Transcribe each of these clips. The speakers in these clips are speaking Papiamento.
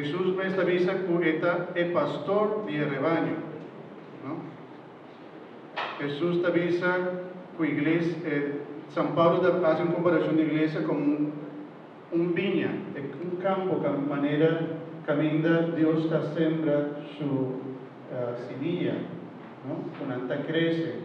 Hesus mes ta bisa ku e ta e pastor di e rebaño. Hesus ta bisa ku igles, San Pablo ta hasi un komparashon di iglesia komo un biña, un kampo manera kaminda Dios ta sembra su simia ku nan ta krese.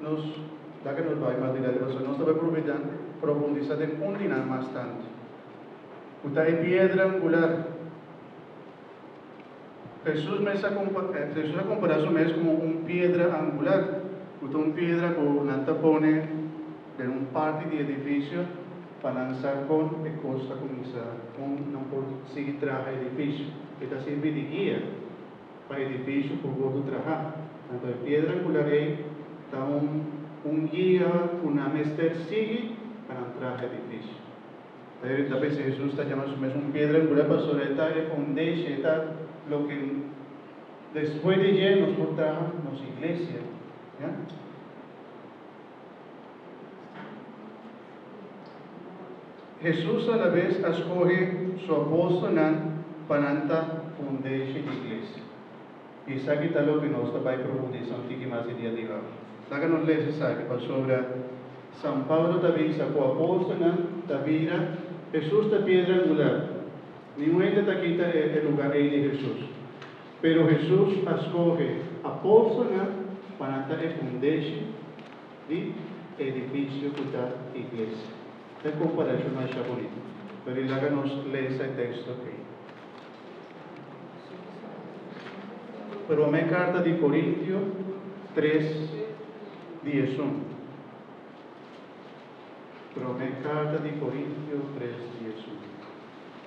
Nos, ya ke nos bai mas di lado riba so, nos ta bai proveda profundisa den un di nan mas tantu, ku ta e piedra angular. Hesus mes a kompa, Hesus a kompará su mes komo un piedra angular, ku ta un piedra ku nan ta pone den un parti di edifisio pa nan sa kon e kos ta kuminsá, kon nan por sigui traha edifisio. E ta sirbi di guia. pa edifisio ku bo ta traha. Anto e piedra angular ei ta un un guia ku nan mester sigui pa nan traha edifisio. Ta iri ta bisti Hesus ta jama su mes un piedra angular pasobra e ta e foundation, e ta loke despues di dje nos por traha nos iglesia. Hesus alabes a skohe su apòstelnan pa nan ta fundeshe di iglesia. I esaki ta loke nos ta bai profundisá un tiki mas e dia di awe. Laga nos lesa esaki pasobra San Pablo ta bisa ku apòstelnan ta bira Hesus ta piedra angular. Ningun hende ta kita e luga ei di Hesus. Pero Hesus a skohe apòstelnan pa nan ta e fundeshi di e edifisio ku ta iglesia. Ta e komparashon masha bonito. Pero i laga nos lesa e teksto ei. Promé karta di Korintio tres di esun. Promé karta di Korintio tres di esun.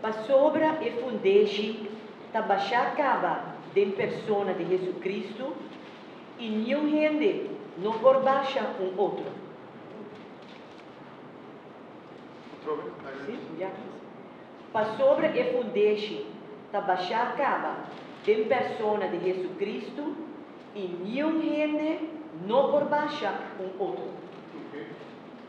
Pasobra e fundeshi ta bashá kaba den persona di Hesukristu i niun hende no por basha un otro. Pasobra e fundeshi ta bashá kaba den persona di Hesukristu i niun hende no por basha un otro.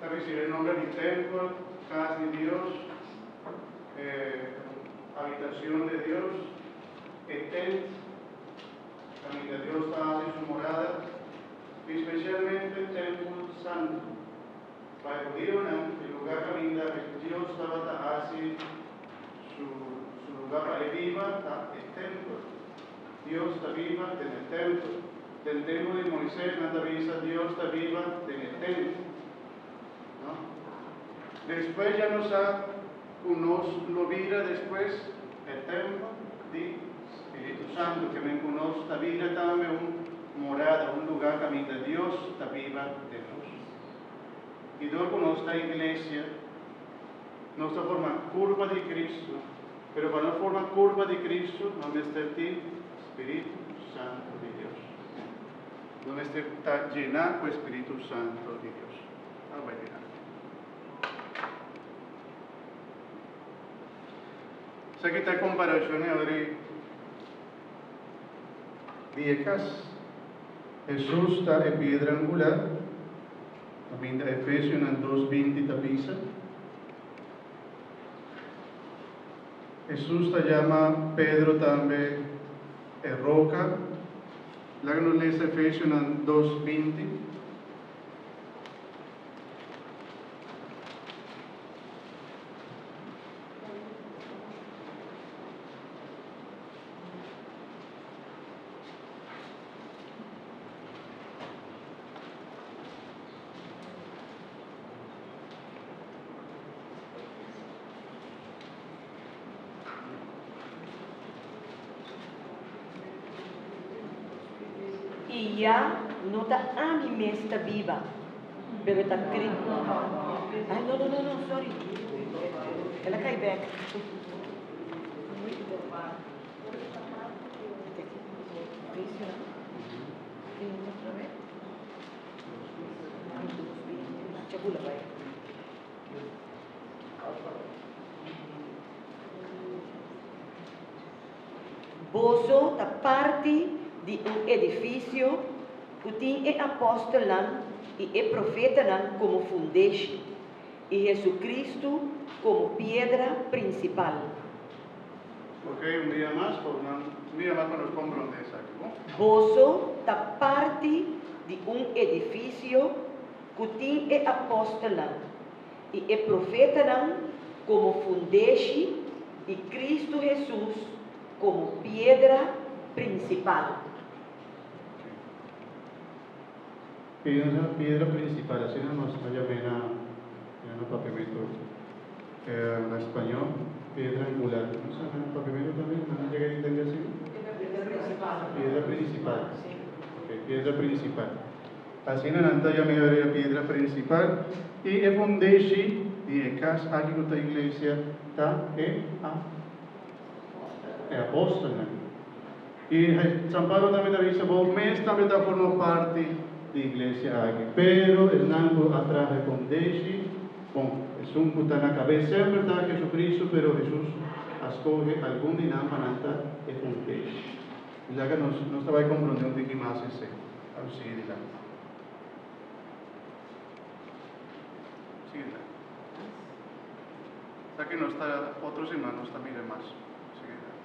Ta ricibi nomber di tempel, cas di Dios, e habitacion di Dios, e tent caminda Dios ta haci su morada, y specialmente tempel santo. Pa e judionan e lugar caminda Dios tabata haci su lugar pa e biba ta e tempel. Dios ta biba den e tempel. Den tempu di Moises nan ta bisa Dios ta biba den e tent. No. Despues ya nos sa cu nos lo bira despues e tempel di Spiritu Santo, ke men cu nos ta bira tambe un morada, un lugar caminda Dios ta biba den nos. Y dor cu nos ta iglesia, Nos ta forma kurpa di Kristu, pero pa no forma kurpa di Kristu no mester tin Spiritu Santu di Dios. No mester ta jená ku e Spiritu Santu di Dios. Al bai mira. Esaki ta komparashon e ora di e kas. Hesus ta e piedra angular. Ta bida Efesionan dos binti ta bisa. Hesus ta yama Pedro tambe e roka. Laga nos lesa Efesionan dos binti. I ya no ta ami mes ta biba, pero ta Cristo. Ay, no, no, no, no, sorry. El a cay back. Boso ta parti di un edifisio ku tin e apòstelnan i e profetanan komo fundeshi i Hesukristu komo piedra prinsipal. Oké, un dia mas por nan mira mas pa nos komprondé esaki, bo. Boso ta parti di un edifisio ku tin e apòstelnan i e profetanan komo fundeshi i Kristu Hesus komo piedra prinsipal. Pensa na piedra principal, asina nos a yam'e na na papiamento na spañó, piedra angular. No sa na papiamento tambe nan a yega intende asina? Piedra principal, ok, piedra principal. Asina nan ta yam'e ora e piedra principal. I e fondeshi di e cas aki cu ta iglesia ta e apóstolnan. I San Pablo tambe ta bisa, Bo mes tambe ta forma parti di iglesia aki. Pero esnan cu a traha con deshi, bon, esun cu ta na cabes semper ta Jesucristo, pero Jesus a scoge algun di nan pa nan ta e un deshi. Sizaga nos, nos ta bay comprende un tiki mas esei. Tabata sigui dilanti. Sigui dilanti. Esaki nos ta, otro siman nos ta mira mas. Sigui dilanti.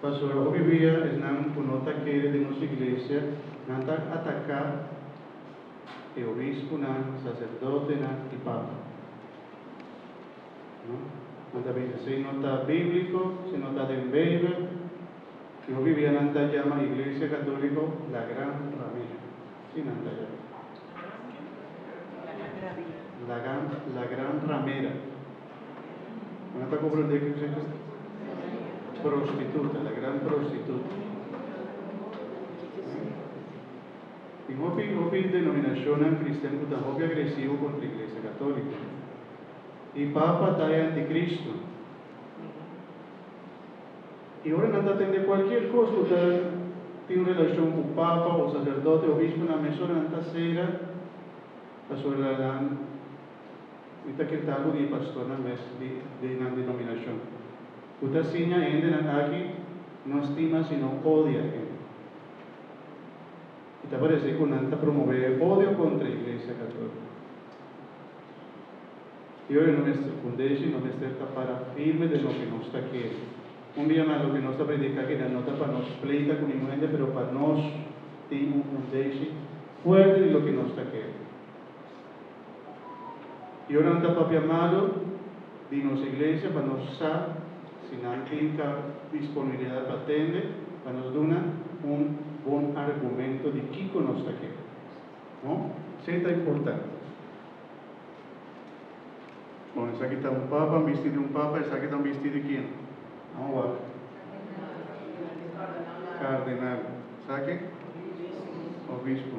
Pasobra hopi bia esnan ku no ta kere den nos iglesia, nan ta ataká e obisponan, saserdotenan i papa. Nan ta bisa, esei no ta bíbliko, esei no ta den Beibel, i hopi bia nan ta yama Iglesia Katóliko la gran ramera. Así nan ta yama. La gran ramera. Nan ta comprende cu fen ta prostituta, la gran prostituta. Tin hopi, hopi denominacionnan cristian cu ta hopi agresivo contra Iglesia Catolica. E papa ta e anticristo. Y ora nan ta tende cualkier cos cu ta tin relacion cu papa o sacerdote, obisponan, mesora nan ta cera pasobra nan. i ta kintá ku di pastornan mes di nan dinominashon ku ta siña hendenan aki no stima sino odia hende. I ta parese ku nan ta promové e odio kontra e Iglesia Katolika. Yo e no mester kundé sino mester ta para firme den loke nos ta kere. Un bia mas loke nos ta prediká aki nan no ta pa nos pleita ku ningun hende pero pa nos tin un kundéshi fuerte di loke nos ta kere. Yo nan ta papia malo di nos iglesia pa nos sa si nan tin ka disponibilidad pa tende, pa nos duna un bon argumento di kico nos ta kere. No? Esey ta importante. Con esaki ta un papa, bisti di un papa, esaki ta bisti di quién? Vamos wacht. Cardenal. Esaki? Obispo.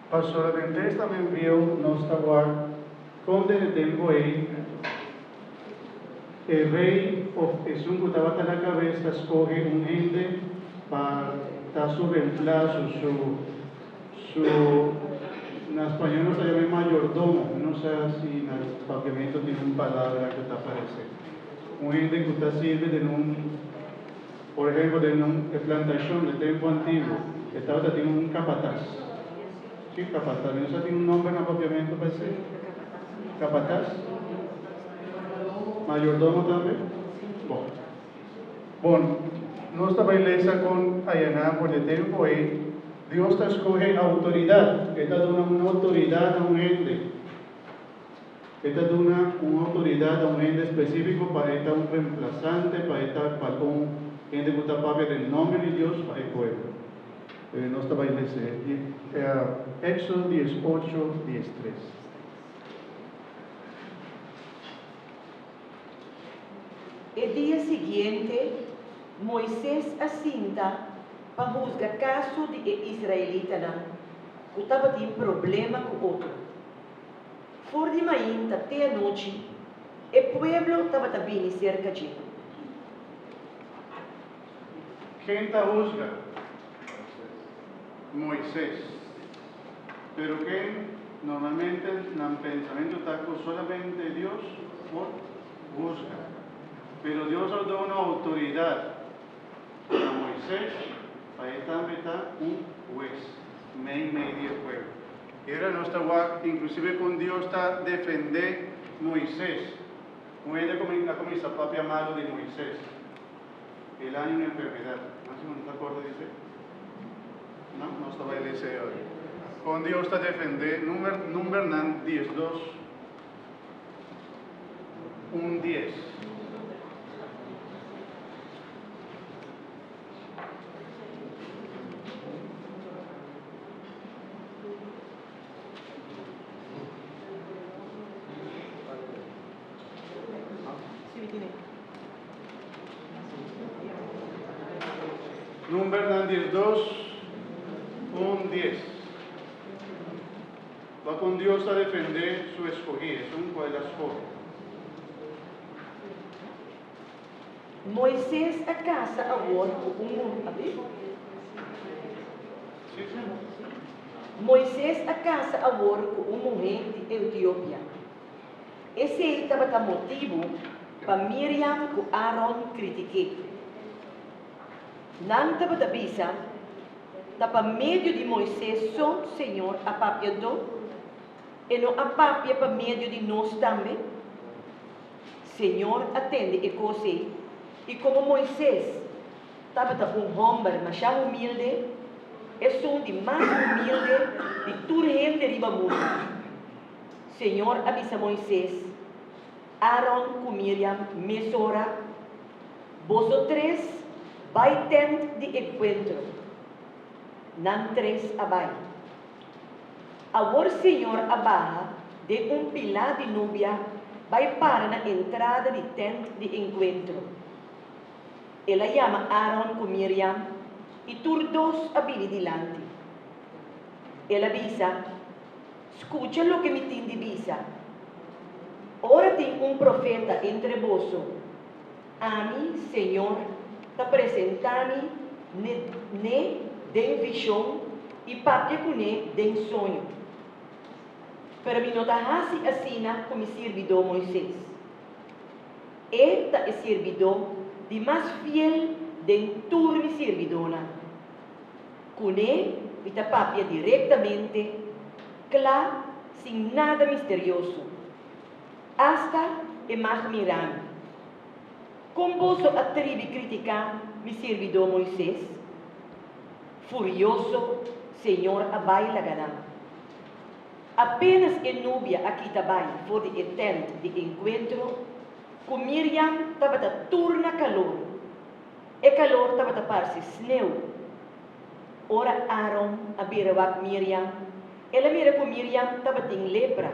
Pa solamente esta men bieu nos ta wak kon den e tempu ei e rei of esun ku tabata na kabes ta skohe un hende pa ta su remplaso, su su na spañol nos ta yama e mayordomo, mi no sa si na papiamento tin un palabra ku ta parese un hende ku ta sirbi den un. Por ehemplo, den un e plantashon den tempu antiguo, e tabata tin un kapatas. Ki kapatas? Mi no sa tin un nòmber na Papiamentu pa esei. Kapatas? Mayordomo tambe? Bo. Bon, nos ta bai lesa kon ayaná for di e tempu ei, Dios ta skohe outoridat. E ta duna un outoridat na un hende. E ta duna un outoridat a un hende spesífiko pa e ta un remplasante, pa e ta paton, hende ku ta papia den nòmber di Dios pa e pueblo. E nos ta bai lese i Éxodo dies ocho, dies tres. E dia siguiente, Moises a sinta pa husga kaso di e israelitanan ku tabatin problema ku otro. For di mainta te anochi, e pueblo tabata bini serka dje. Ken ta husga? Moises. Pero ken normalmente nan pensamentu ta ku solamente Dios por husga. Pero Dios a duna outoridat na Moises pa e tambe ta un hues meimei di e pueblo. Ora nos ta wak, inklusive kon Dios ta defendé Moises. Un hende a kuminsá papia malu di Moises. E laña un enfermedat. Nan sigur no ta akorda di esei? No? Nos ta bai lei esei ora. Kon Dios ta defendé Number, Numbernan diesdos un dies. Numbernan di e dos un dies. Bai kon Dios ta defendé su eskohí, esun ku ai da skor. Moises a casa awor cu un muhe di Etiopia. Esey tabata motibu pa Miriam cu Aaron critiké. Nan tabata bisa, Ta pa medio di Moises so Señor a papia do? E no a papia pa medio di nos tambe? Señor a tende e cos ey, y como Moises tabata un homber masha humilde, esun di mas humilde di tur hende riba mundo, Señor a bisa Moises, Aaron cu Miriam mesora, Boso tres bay tent di encuentro. Nan tres a bay. Awor Señor a baha den un pilá di nubia bai para na entrada di tènt di enkuentro. El a yama Aaron ku Miriam i tur dos a bini dilanti. El a bisa, Skucha loke mi tin di bisa, Ora tin un profeta entre boso, Ami, Señor, ta presenta mi n'e den vision y papia cu n'e den soño. Pero mi no ta haci asina cu mi sirbidó Moisés. E ta e sirbidó di mas fiel den tur mi sirbidónan. Cu n'e mi ta papia directamente, cla, sin nada misterioso. Asta e mag mirami. Kon boso a tribi kritiká mi sirbidó Moises? Furioso, Señor a bai laga nan. Apénas e nubia a kita bai for di e tènt di enkuentro, ku Miriam tabata tur na kalor, e kalor tabata parse sneu. Ora Aaron a bira wak Miriam, el a mira ku Miriam tabatin lepra.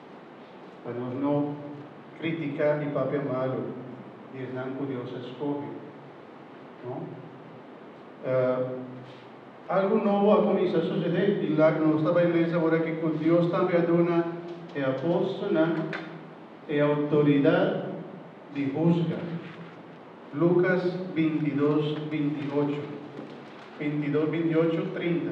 pa nos no kritika i papia malu di esnan ku Dios a skohe. No? Uh, algu nobo a kuminsá susedé. Tin lak nos ta bai mes awor aki ku Dios tambe a duna e apòstelnan e outoridat di husga. Lukas 22, 28, 22, 28, 30.